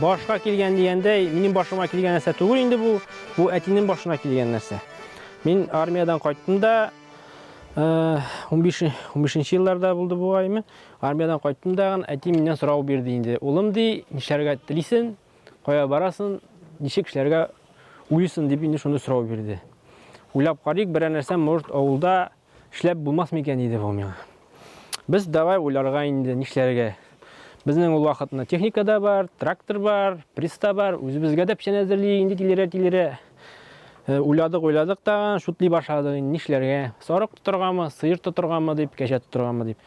Башка килгән дигәндәй, минем башыма килгән нәрсә түгел инде бу. Бу әтинең башына килгән нәрсә. Мин армиядән кайттым да, 15 э, 15 елларда булды бу аймы. Армиядән кайттым да, әти миннән сорау бирде инде. Улым ди, нишләргә телисен, кая барасын, ничек эшләргә уйысын дип инде шуны сорау бирде. Уйлап карыйк, берәр нәрсә может авылда Эшләп булмас микән иде бу миңа. Без давай уйларга инде нишләргә. Безнең ул вакытны техника да бар, трактор бар, приста бар, үзебезгә дә печән әзерли инде тилерә-тилерә. Э, уйладык, уйладык та, шутли башладык инде нишләргә. Сарык тотыргамы, сыер тотыргамы дип, кәҗә тотыргамы дип.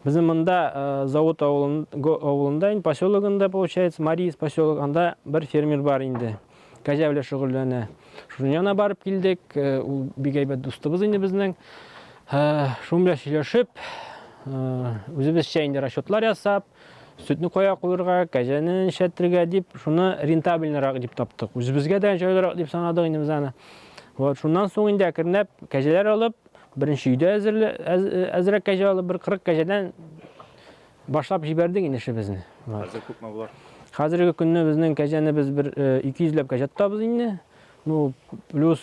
Безнең монда э, завод авылында, авылында инде поселогында получается, Марис поселок, анда бер фермер бар инде. Кәҗә белән шөгыльләнә. Шуның янына барып килдек. Ул бик әйбәт дустыбыз инде безнең. Шуның белән сөйләшеп, үзебезчә инде расчетлар ясап, сөтне кая куерга, кәҗәне нишәтергә дип, шуны рентабельнерак дип таптык. Үзебезгә дә җайлырак дип санадык инде без аны. Вот, шуннан соң инде әкренләп кәҗәләр алып, беренче өйдә әзерәк кәҗә алып, бер 40 кәҗәдән Башлап җибәрдек инде эшебезне. Хәзер күпме болар? Хәзерге көнне безнең кәҗәне без бер 200 э, ләп кәҗә тотабыз инде. Ну, плюс,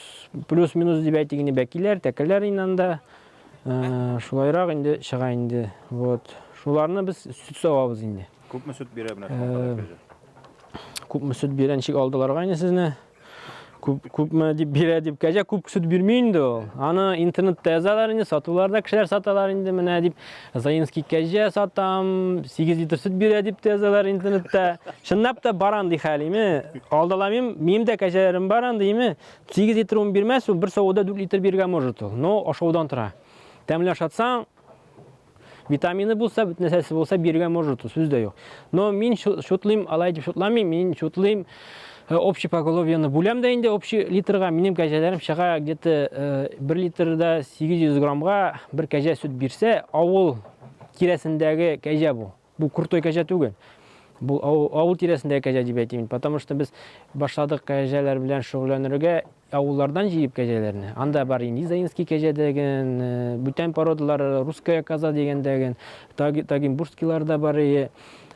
плюс-минус дип әйтик инде, бәкиләр, тәкәләр инде анда. Э, шулайрак инде чыга инде. Вот. Шуларны без сөт савабыз инде. Күпме сөт бирә менә э, шуңа кадәр кәҗә? Күпме сөт бирә, ничек алдыларга инде сезне? Күп, күпме дип бирә дип, кәҗә күп сөт бирми инде ул. Аны интернетта язалар инде, сатуларда кешеләр саталар инде, менә дип, Заинский кәҗә сатам, 8 литр сөт бирә дип тә язалар интернетта. Чынлап та бар андый хәл, име? Алдаламыйм, минем дә кәҗәләрем бар андый, име? 8 литр ун бирмәс, ул бер савуда 4 литр бирергә может ул. Но ашаудан тора. Тәмле ашатсаң, Витамины булса, бөтен нәрсәсе булса, бирергә может, сүз дә юк. Но мин шутлыйм, алай дип шутламыйм, мин шутлыйм, э, общий поголовьены бүләм дә инде общий литрга, минем кәҗәләрем чыга где-то 1 э, литрда 800 граммга бер кәҗә сөт бирсә, авыл тирәсендәге кәҗә бу. Бу крутой кәҗә түгел. Бу авыл тирәсендәге кәҗә дип әйтим мин. Потому что без башладык кәҗәләр белән шөгыльләнергә авыллардан җыеп кәҗәләрне. Анда бар инде Заинский кәҗә дигән, э, бүтән породалар, русская коза дигән дигән, тагимбурскийлар да бар и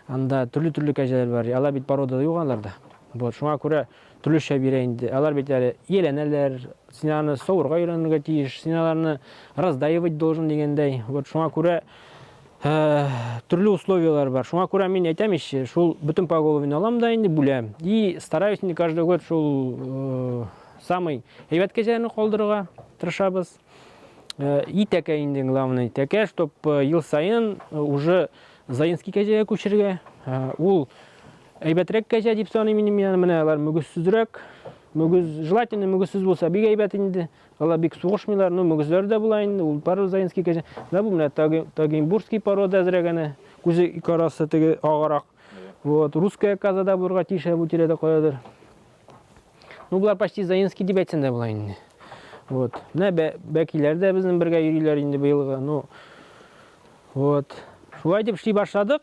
анда төрле-төрле кәҗәләр бар. Алар бит порода юк аларда. Вот, шуңа күрә төрлечә бирә инде. Алар бит әле ияләнәләр, син аны савырга өйрәнергә тиеш, син аларны раздаивать должен дигәндәй. Вот шуңа күрә Ә, төрле условияләр бар. Шуңа күрә мин әйтәм ич, шул бөтен поголовьне алам да инде бүләм. И стараюсь инде каждый год шул э, самый әйбәт кәҗәләрне калдырырга тырышабыз. Э, и тәкә инде главный тәкә, чтоб э, ел саен э, уже Заинский кәҗәгә күчергә. Э, ул әйбәтрәк кәҗә дип саныйм мин менә алар мөгезсезрәк. Мөгез желательно мөгезсез булса бик әйбәт инде. Алар бик сугышмыйлар, ну мөгезләре дә була инде, ул парузаинский кәҗә. Менә бу менә тагимбурский порода әзрәк әнә, күзе ике арасы теге агарак. Вот, русская каза да булырга тиеш бу тирәдә каядыр. Ну болар почти заинский дип әйтсәң дә була инде. Вот. Менә бәкиләр дә безнең бергә йөриләр инде быелгы. Ну. Вот. Шулай дип эшли башладык.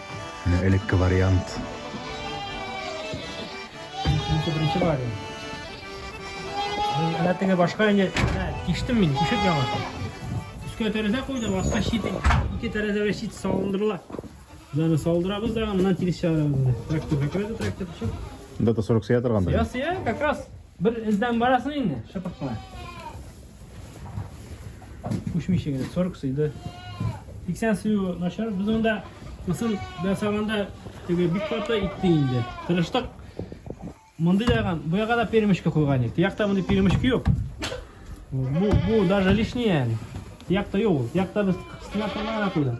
Менә элекке вариант. Инде беренче вариант. Менә теге башка инде тиштем мин, тишеп яңа. Өскә тәрәзә куйдым, аска шит, ике тәрәзәгә шит салындырыла. Аны салдырабыз да, аннан тирис чыгарабыз. Трактор закрыты, трактор төшеп. Монда да 40 сыя торгандыр. Сыя, сыя, как раз. Бер эздән барасың инде, шыпырт кына. Күчмичә генә 40 сыйды. 80 сыю начар. Без анда мысын ясаганда теге бик каты итте инде. Тырыштык. Мондый даган бу якка да перемешкә куйган идек. Якта мондый перемешка юк. Бу бу даже лишнее. Якта юк. Якта без стенаторларга куйдык.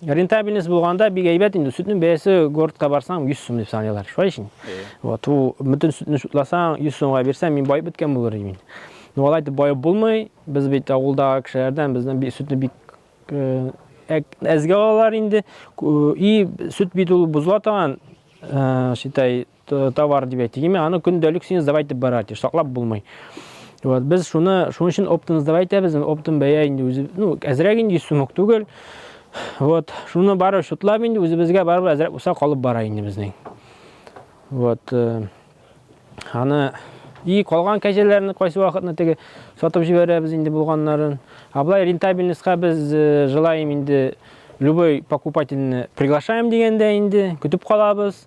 Рентабельность булганда бик әйбәт инде. Сөтнең бәясе городка барсаң 100 сум дип саныйлар. Шулай ишин. Вот ул бөтен сөтне сутласаң 100 сумга бирсәң, мин баеп беткән булыр идем. Но алай дип баеп булмый. Без бит авылдагы кешеләрдән бездән бик сөтне бик э, әзгә алалар инде. И сөт бит ул бозыла торган, э, шитай, Товар дип әйтик, яме аны көндәлек син сдавать итеп бара, ди, саклап булмый. Вот, без шуны, шуның өчен оптын сдавать итәбез, оптын бәя инде үзе, ну, әзрәк инде 100 сум түгел. Вот, шуны бары шутлап инде үзебезгә барып әзрәк булса калып бара инде безнең. Вот, э, аны и калган кәҗәләрне кайсы вакытны теге сатып җибәрәбез инде булганнарын. А былай рентабельностька без э, желаем инде любой покупательны приглашаем дигәндә инде көтеп калабыз.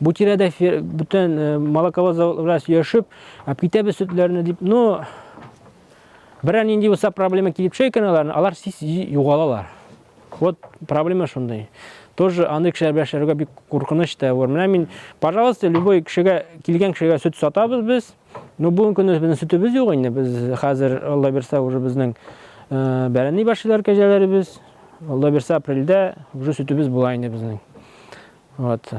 Бу тирәдә бүтән э, молоковоз заводлар йөршеп, әп китәбез сөтләрне дип, ну берәр нинди булса проблема килеп чөй икән аларны, алар сис югалалар. Вот проблема шундый. Тоже аны кешеләр белән эшләргә бик куркыныч та бар. Менә мин, пожалуйста, любой кешегә, килгән кешегә сөт сатабыз без. Ну, бүгенге көндә безнең сөтебез юк инде. Без хәзер, Алла бирсә, уже безнең э, бәрәни башлар кәҗәләребез. Алла бирсә, апрельдә уже сөтебез була инде безнең. Вот.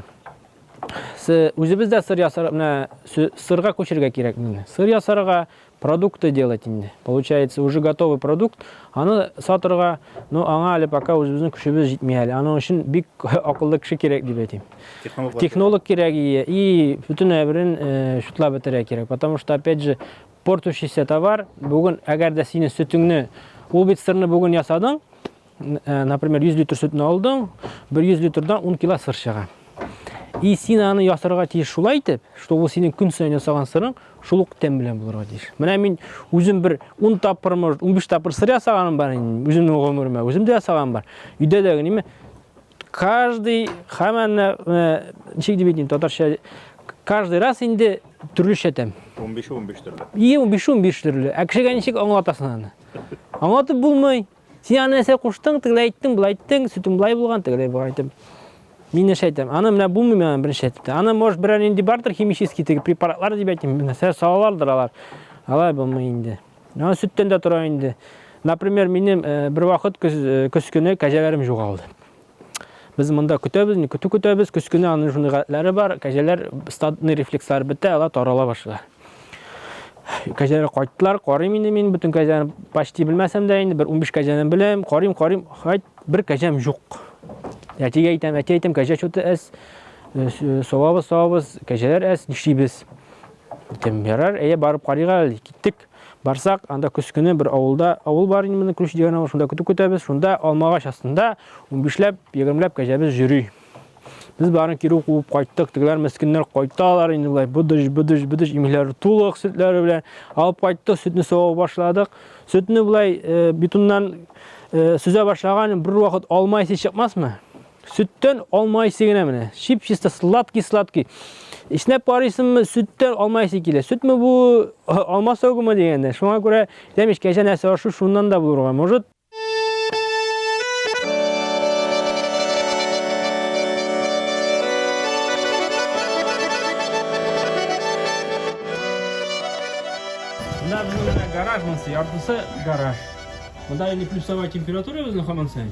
Үзебездә сыр ясар, менә сырга күчергә кирәк инде. Сыр ясарга продукты делать инде. Получается, уже готовый продукт. Аны сатырга, ну, аңа әле пока үзебезнең көчебез җитми әле. Аның өчен бик акыллы кеше кирәк дип әйтим. Технолог, Технолог кирәк и, и бүтән әйберен э, шутлап бетерә кирәк. Потому что, опять же, портущийся товар, бүген әгәр дә синең сөтеңне, ул бит сырны бүген ясадың, Э, например, 100 литр сөтне алдың, бер 100 литрдан 10 кило сыр чыга. И син аны ясарга тиеш шулай итеп, что ул синең көн саен ясаган сырың шул ук тәм белән булырга тиеш. Менә мин үзем бер 10 тапкыр, может, 15 тапкыр сыр ясаганым бар инде, үземнең гомеремә, үзем дә ясаган бар. Өйдә дә генеме каждый хаманны э, ничек дип әйтим татарча каждый раз инде төрлечә тәм. 15-15 төрле. И 15-15 төрле. Ә кешегә ничек аңлатасың аны? Аңлатып булмый. Син аны нәрсә куштың, тегеләй әйттең, былай әйттең, сөтең былай булган, тегеләй булган әйтеп. Мин нәрсә әйтәм? Аны менә булмый миңа беренче әйтте. Аны может берәр нинди бардыр химический теге препаратлар дип әйтим. Нәрсә салалардыр алар. Алай булмый инде. Аны сөттән дә тора инде. Например, минем э, бер вакыт көз, э, көз көне кәҗәләрем югалды. Без монда көтәбез, не көтү көтәбез, көз көне аның шундый гадәтләре бар, кәҗәләр стадный рефлекслар бетә, алар тарала башлыйлар. Кәҗәләр кайттылар, карыйм инде мин, бөтен кәҗәне почти белмәсәм дә инде, бер 15 кәҗәне беләм, карыйм, карыйм, хайт, бер кәҗәм юк. Әтигә әйтәм, әти әйтәм, кәҗә чуты әз, э, э, савабыз, савабыз, кәҗәләр әз, нишлибез? Әйтәм, ярар, әйе, барып карыйга әле, киттек. Барсак, анда көз көне бер авылда, авыл бар инде моның Күлүш дигән авыл, шунда көтү көтәбез. Шунда алмагач астында унбишләп, егермеләп кәҗәбез йөри. Без барын кире куып кайттык. Тегеләр мескеннәр кайталар инде болай быдыш, быдыш, быдыш имейләре тулык сөтләре белән. Алып кайттык, сөтне савып башладык. Сөтне болай э, битумнан э, сөзә башлаган бер вакыт алма исе чыкмасмы? Сөттән алма исе генә менә. Чип-чиста сладкий-сладкий. Иснәп карыйсыңмы, сөттән алма исе килә. Сөтме бу, алма согымы дигәндә. Шуңа күрә дәмеш кәҗә нәрсә ашу шуннан да булырга. Может, гараж монсы, яртысы гараж. Монда инде плюсовая температура безнең хаман саен.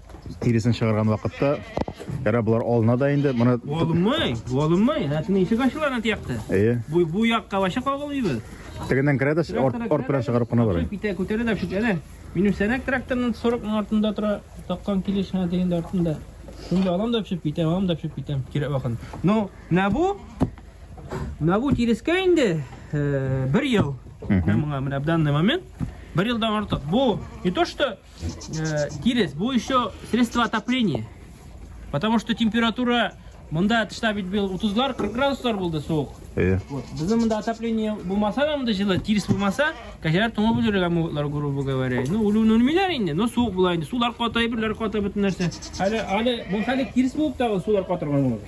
Тиресен чыгарган вакытта Ярар, болар алына да инде. Моны Алынмый, алынмый. Әтне ишек ачыла ана тиякте. Әйе. Бу бу якка вача кагылыйбыз. Тегеннән керә дә арт белән чыгарып кына бара. Питә күтәрә дә шик әле. Минем сәнәк тракторның 40 мең артында тора, таккан килеш ана дигәндә артында. Шунда алам да пешеп китәм, алам да пешеп китәм. Кирәк вакыт. Ну, менә бу менә бу тирескә инде э, бер ел. Менә моңа менә данный момент бер елдан артык. Бу не то что Э, Кирес, бу еще средство отопления. Потому что температура Мында тышта бит бил 30-лар, 40 градуслар булды суык. Э. Вот. Безнең монда отопление булмаса да монда җылы, тирс булмаса, кәҗәләр туңып үлергә мөмкинләр, грубо говоря. Ну, үлүне үлмиләр инде, но суык була инде. Сулар ката, берләр ката бөтен нәрсә. Әле әле бу хәле тирс булып тагы сулар катырган булды.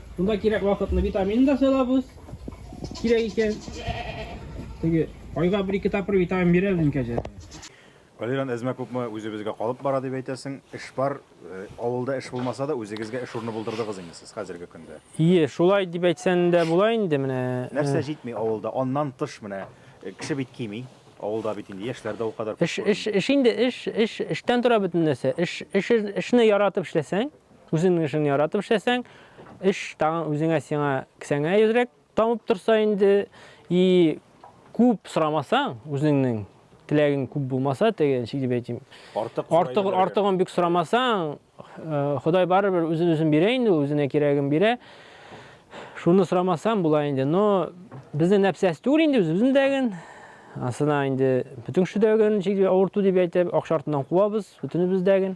Шунда кирәк вакытны витамин да сайлабыз. Кирәк икән. Теге айга бер-ике тапкыр витамин бирә безнең кәҗә. Валеран әзмә күпме үзебезгә калып бара дип әйтәсең. Эш бар, э, авылда эш булмаса да, үзегезгә эш урыны булдырдыгыз инде сез хәзерге көндә. Ие, шулай дип әйтсәң дә була инде менә. Э. Нәрсә җитми авылда? Аннан тыш менә э, кеше бит кими. Авылда бит инде яшьләр дә ул кадәр күп. Эш, эш, эш инде эш, эш, эштән тора бөтен нәрсә. Эш, эш, эшне яратып эшләсәң, Үзеңнең эшеңне яратып эшләсәң, эш тагын үзеңә сиңа кесәңә әзрәк тамып торса инде, и күп сорамасаң, үзеңнең теләгең күп булмаса, теге ничек дип әйтим, артык артык артыгын бик сорамасаң, э, Ходай барыбер үзен үзен бирә инде, үзенә кирәген бирә. Шуны сорамасаң була инде. Но безнең нәпсәс түгел инде үзебезнең дәген. Асына инде бөтен кеше дәген, ничек дип авырту дип әйтеп, акча артыннан куабыз, бөтенебез дәген.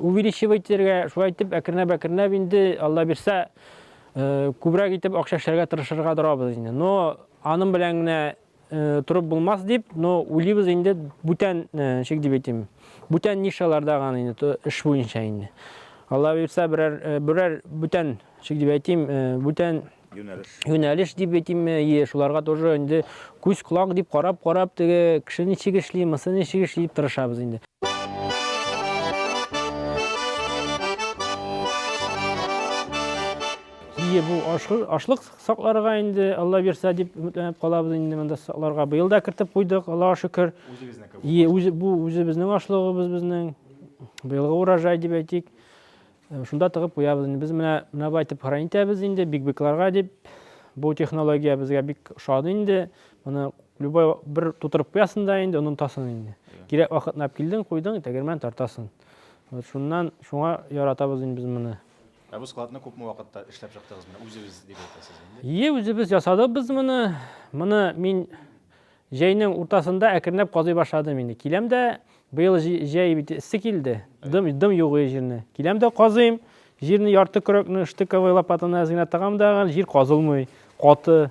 Увеличивать итәргә, шулай итеп әкренләп-әкренләп инде, Алла бирсә, күбрәк итеп акча эшләргә тырышырга торабыз инде. Но аның белән генә торып булмас дип, но уйлыйбыз инде бүтән, ничек дип әйтим, бүтән нишаларда гына инде эш буенча инде. Алла бирсә, берәр берәр бүтән, ничек дип әйтим, бүтән юнәлеш дип әйтимме, е, шуларга тоже инде күз колак дип карап-карап теге кеше ничек эшли, мысы ничек эшли дип тырышабыз инде. Ие бу ашлык сакларга инде Алла бирсә дип өметләнеп калабыз инде монда сакларга. Быел да кертеп куйдык, Аллага шөкер. Үзебезнеке. Ие, үзе бу үзебезнең ашлыгыбыз безнең. Быелгы урожай дип әйтик. Шунда тыгып куябыз инде. Без менә менә бу итеп хран итәбез инде бигбекларга дип. Бу технология безгә бик ошады инде. Моны любой бер тутырып куясың да инде онытасың инде. Кирәк вакытына килдең, куйдың, тәгәрмән тартасың. Вот шуннан шуңа яратабыз инде без моны. Ә бу складны күпме вакытта эшләп чыктыгыз? Менә үзегез дип әйтәсез инде. Ие, үзебез ясадык без моны. Моны мин Җәйнең уртасында әкренләп казый башладым инде. Киләм дә, быел җәй бит эссе килде, дым югый җирне. Киләм дә казыйм, җирне ярты көрәкне штыковый лопатаны әз генә тыгам да, җир казылмый, каты.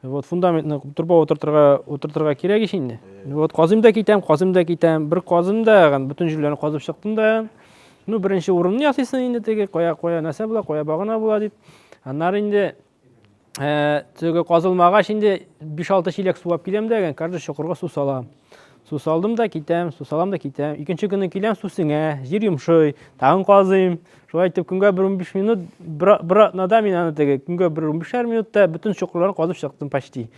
Вот фундаментны турбага утыртырга, утыртырга кирәк ич инде. Вот казыйм да китәм, казыйм да китәм. Бер казым да, бөтен җирләрне казып чыктым да. Ну, беренче урынны ясыйсын инде теге, кая, кая нәрсә була, кая багана була дип. Аннары инде Ә, теге казылмагач инде 5-6 чиләк су алып киләм дә, каждый чокырга су салам. Су салдым да китәм, су салам да китәм. Икенче көнне киләм, су сеңә, җир йомшый, тагын казыйм. Шулай итеп көнгә бер 15 минут, бер, бер атнада мин аны теге көнгә бер 15 минутта бөтен чокырларны казып чыктым почти.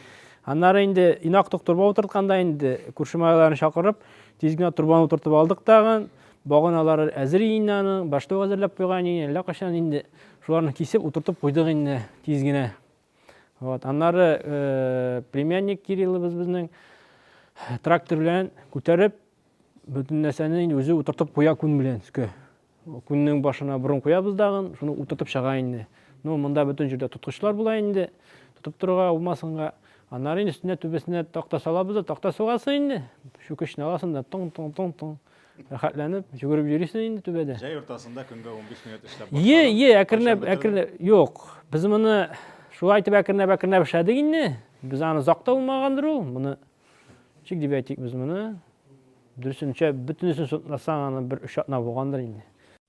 Аннары инде инак токтырба утыртканда инде күрше малайларны чакырып, тиз генә турбаны утыртып алдык тагын. Баганалары әзер инде аның, башта ук әзерләп куйган иде, әллә кайчан инде шуларны кисеп утыртып куйдык инде тиз генә. Вот, аннары э, племянник Кириллыбыз безнең э, трактор белән күтәреп бөтен нәрсәне инде үзе утыртып куя күн белән өскә. Күннең башына борын куябыз дагын, шуны утыртып чыга инде. Ну, монда бөтен җирдә тоткычлар була инде, тотып торырга булмасынга. Аннары инде өстенә түбәсенә такта салабыз да, такта сугасы инде. Чүкечне аласың да, тың-тың-тың-тың. Рәхәтләнеп йөгереп йөрисең инде түбәдә. Җәй уртасында көнгә 15 минут эшләп башладым. Е, е, әкренләп, әкренләп. Юк, без моны шулай итеп әкренләп, әкренләп эшләдек инде. Без аны озак та булмагандыр ул. Моны чик дип әйтик без моны. Дөресенчә, бөтенесен сотласаң, аны бер өч атна булгандыр инде.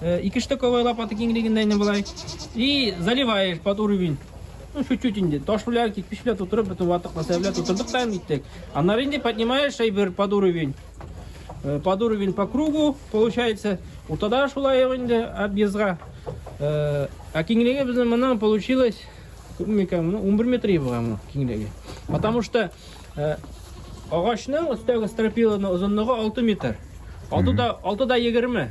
Э, ике штыковая лопата киңлегендә инде болай. И заливаешь под уровень. Ну, чуть-чуть инде. Таш белән, кирпич белән тутырып, бөтен ватык мәсәлә белән тутырдык та иттек. Аннары инде поднимаешь әйбер под уровень. Э, под уровень по кругу получается. Уртада шулай инде объездга. Э, а киңлеге безнең моннан получилось күпмекән, 11 метр булган киңлеге. Потому что агачның өстәге стропиланың озынлыгы 6 метр. Алты да, алты да 20.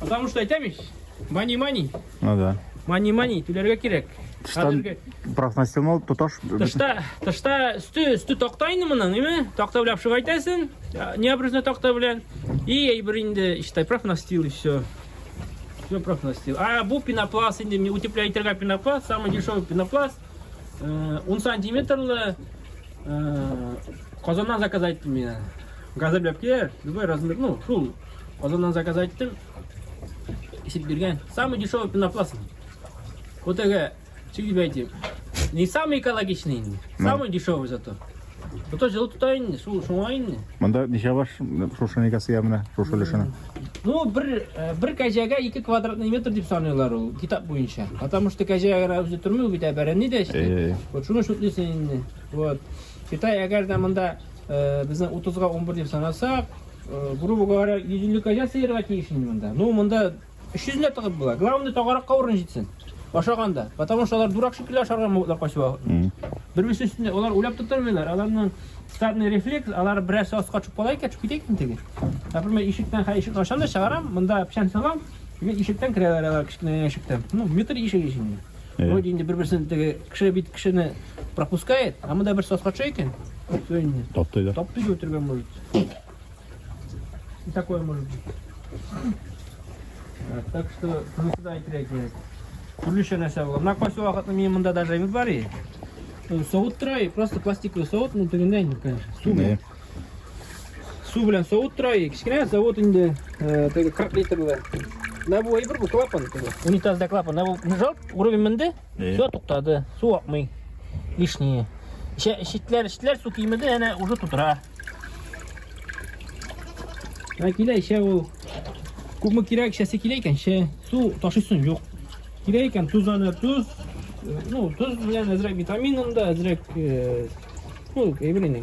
Потому что әйтәм ич, мани-мани. Ну да. Мани-мани, түләргә кирәк. Тыштан профнастемол тоташ. Тышта, тышта өсте, өсте такта инде моның, име? Такта белән шуга әйтәсен. Не обрезно такта белән. И әйбер инде, иштай профнастил и все. Все профнастил. А бу пенопласт инде, не утепляйтерга пенопласт, самый дешевый пенопласт. Э, он сантиметрлы э, Казаннан заказать мне. Газы беләп килә, любой размер, ну, шул Казаннан заказ айттым. Исеп бирген. Самый дешевый пенопласт. Вот это, что тебе эти? Не самый экологичный, самый дешевый зато. Зато жылы тута инде, су шуңа инде. Монда ничә баш шушы никасы ямына, шушы өлешенә? Ну, бер, э, бер кәҗәгә 2 квадратный метр дип саныйлар ул, китап буенча. Потому что кәҗә генә үзе тормый бит, ә бәрәнне дә эшли. Вот шуны шутлыйсың инде. Вот. Китай әгәр дә монда Безнең 30-га 11 дип санасак, грубо говоря, 150 козя сыерга тиеш инде монда. Ну, монда 300 лә тыгып була. Главное, тагаракка урын җитсен. Ашаганда. Потому что алар дурак шикелле ашарга могутлар качуга. Бер-берсе өстендә алар уйлап тотырмыйлар. Аларның стадный рефлекс, алар берәрсе аска төшеп кала икән, китә икән теге. Например, ишектән хә ишек ашам да чыгарам, монда печән салам, ишектән керәләр алар кечкенә ишектән. Ну, метр ишек ишеге. Вроде инде бер-берсен теге кеше бит кешене пропускает, а монда бер саска төшә икән. Все инде. Таптый да. Таптый да үтергән может. И такое может быть. Так что, шунысы да әйтергә кирәк. Төрлечә нәрсә була. Менә кайсы вакытны мин монда даже әйбер бар и. Савыт тора и просто пластиковый савыт, ну тегендә инде, конечно. Су. Су белән савыт тора, кечкенә савыт инде, э, теге 40 литрлы. Менә бу әйбер бу клапан теге. Унитазда клапан. Менә бу жалп, уровень менде. Все туктады. Су акмый. Лишние. Шитләр, шитләр су кимеде, әнә уже тутыра. Ә килә ишә ул. Күпме кирәк ишәсе килә икән, ше. Су ташысын юк. Кирәк икән туз аны, туз. Ну, туз белән әзрәк витаминын да, әзрәк, э, ну, әйбер инде.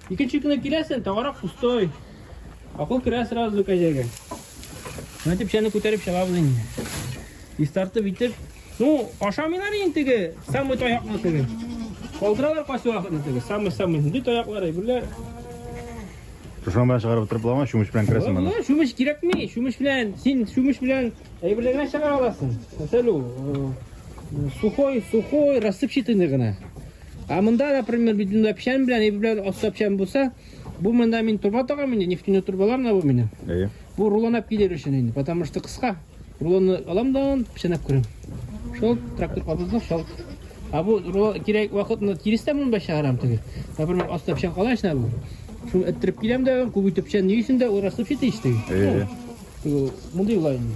Икенче көне киләсен, тагарак пустой. Акыл керә сразу кәҗәгә. Менә дип чәне күтәреп чыгабыз инде. Истартып итеп, ну, ашамыйлар инде теге, самый таякны теге. Калдыралар кайсы вакытны теге, самый-самый нинди таяклар әйберләр. Шушан белән чыгарып утырып буламы, чүмеч белән керәсең монда. Бу чүмеч кирәкми, чүмеч белән, син чүмеч белән әйберләргә чыгара аласың. Мәсәлән, сухой, сухой, рассыпчатый гына. А монда, например, бит монда печән белән, иб белән аста печән булса, бу монда мин турба тагам инде, нефтяной турбалар мына бу минем. Әйе. Бу рулонап килер өчен инде, потому что кыска. Рулонны алам да он печәнәп күрәм. Шул трактор кабызды, шул. А бу рулон кирәк вакытны тирестә монда чыгарам теге. Например, аста печән кала эченә бу. Шуны эттереп киләм дә, күп итеп печән ни өчен дә урасып читеште. Әйе. Монда юлай инде.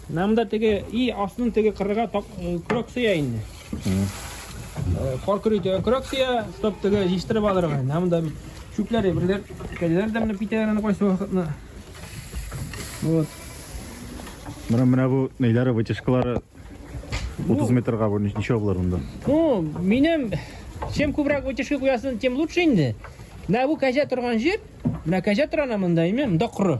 Нам да теге и астын теге кырыга көрәк сөя инде. Кар көрәй төгән көрәк сөя, стоп теге җиштырып алырга. Нам да бит чүпләр әйберләр, кәләләр дә менеп китәләр аны кайсы вакытны. Вот. Менә менә бу нәйләре вытяжкалары 30 метрга бу ничә булыр монда? Ну, минем чем күбрәк вытяжка куясын, тем лучше инде. Менә бу кәҗә торган җир, менә кәҗә торана монда, имем, монда коры.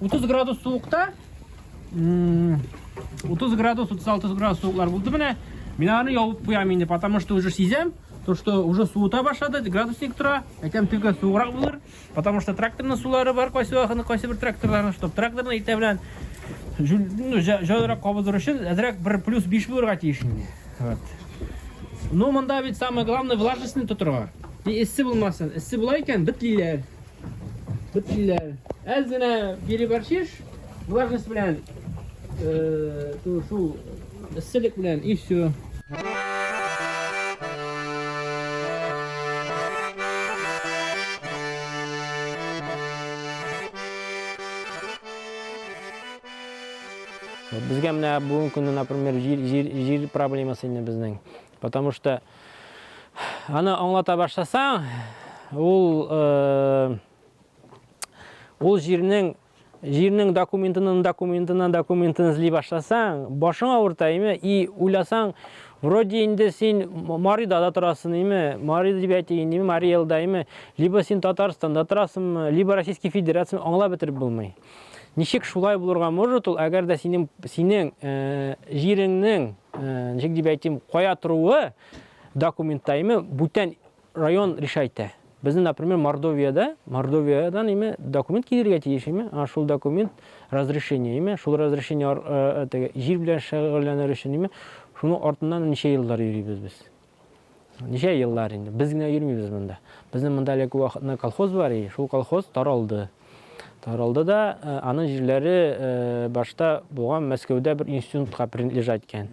30 градус суыкта 30 градус 36 градус суыклар булды менә мин аны ябып куям инде потому что уже сизәм то что уже суыта башлады градусник тора әйтәм төгә суыграк булыр потому что тракторның сулары бар кайсы вакытны кайсы бер тракторларның чтобы тракторның иртә белән ну, җайлырак кабызыр өчен әзрәк бер плюс 5 булырга тиеш инде вот. ну монда бит самое главное влажностьны тотырга и эссе булмасын эссе була икән бетлиләр Төплиләр. Әз генә переборчиш, влажность белән, шул эсселек белән и все. Безгә менә бүгенге көндә, например, җир проблемасы инде безнең. Потому что аны аңлата башласаң, ул э, ул җирнең җирнең документының документынан документын эзли башласаң, башың авырта име? И уйласаң, вроде инде син Марида да торасың име? Мари дип әйтәйин име? Мари Элда име? Либо син Татарстанда торасыңмы, либо Российский Федерация аңлап бетереп булмый. Ничек шулай булырга может ул, әгәр дә синең, синең э, җиреңнең, э, ничек дип әйтим, кая торуы документта име бүтән район решайтә. Безне, например, Мордовияда, Мордовиядан име документ килергә тиеш име, а шул документ разрешение име, шул разрешение э, э, теге җир белән шөгыльләнер өчен име, шуның артыннан ничә еллар йөрибез без. Ничә еллар инде. Без генә йөрмибез монда. Безнең монда әле күп вакытны колхоз бар и шул колхоз таралды. Таралды да, э, аның җирләре э, башта булган Мәскәүдә бер институтка принадлежать иткән.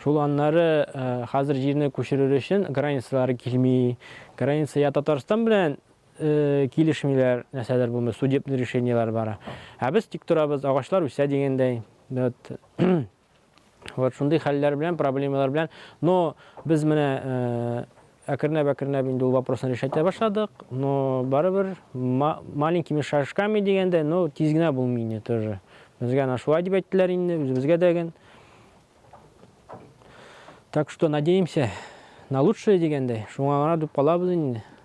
Шул аннары э, хәзер җирне күчерер өчен границалары килми. Граница я Татарстан белән э, килешмиләр, нәрсәләр булмый, судебный решениеләр бара. Ә без тик торабыз, агачлар үсә дигәндәй. Вот. Вот шундый хәлләр белән, проблемалар белән. Но без менә э, әкренләп-әкренләп инде ул вопросны решәтә башладык. Но барыбер маленькими шажками дигәндә, но тиз генә булмый инде тоже. Безгә ана шулай дип әйттеләр инде, үзебезгә дә ген. Так что надеемся на лучшее дигәндәй, шуңа гына дип калабыз инде.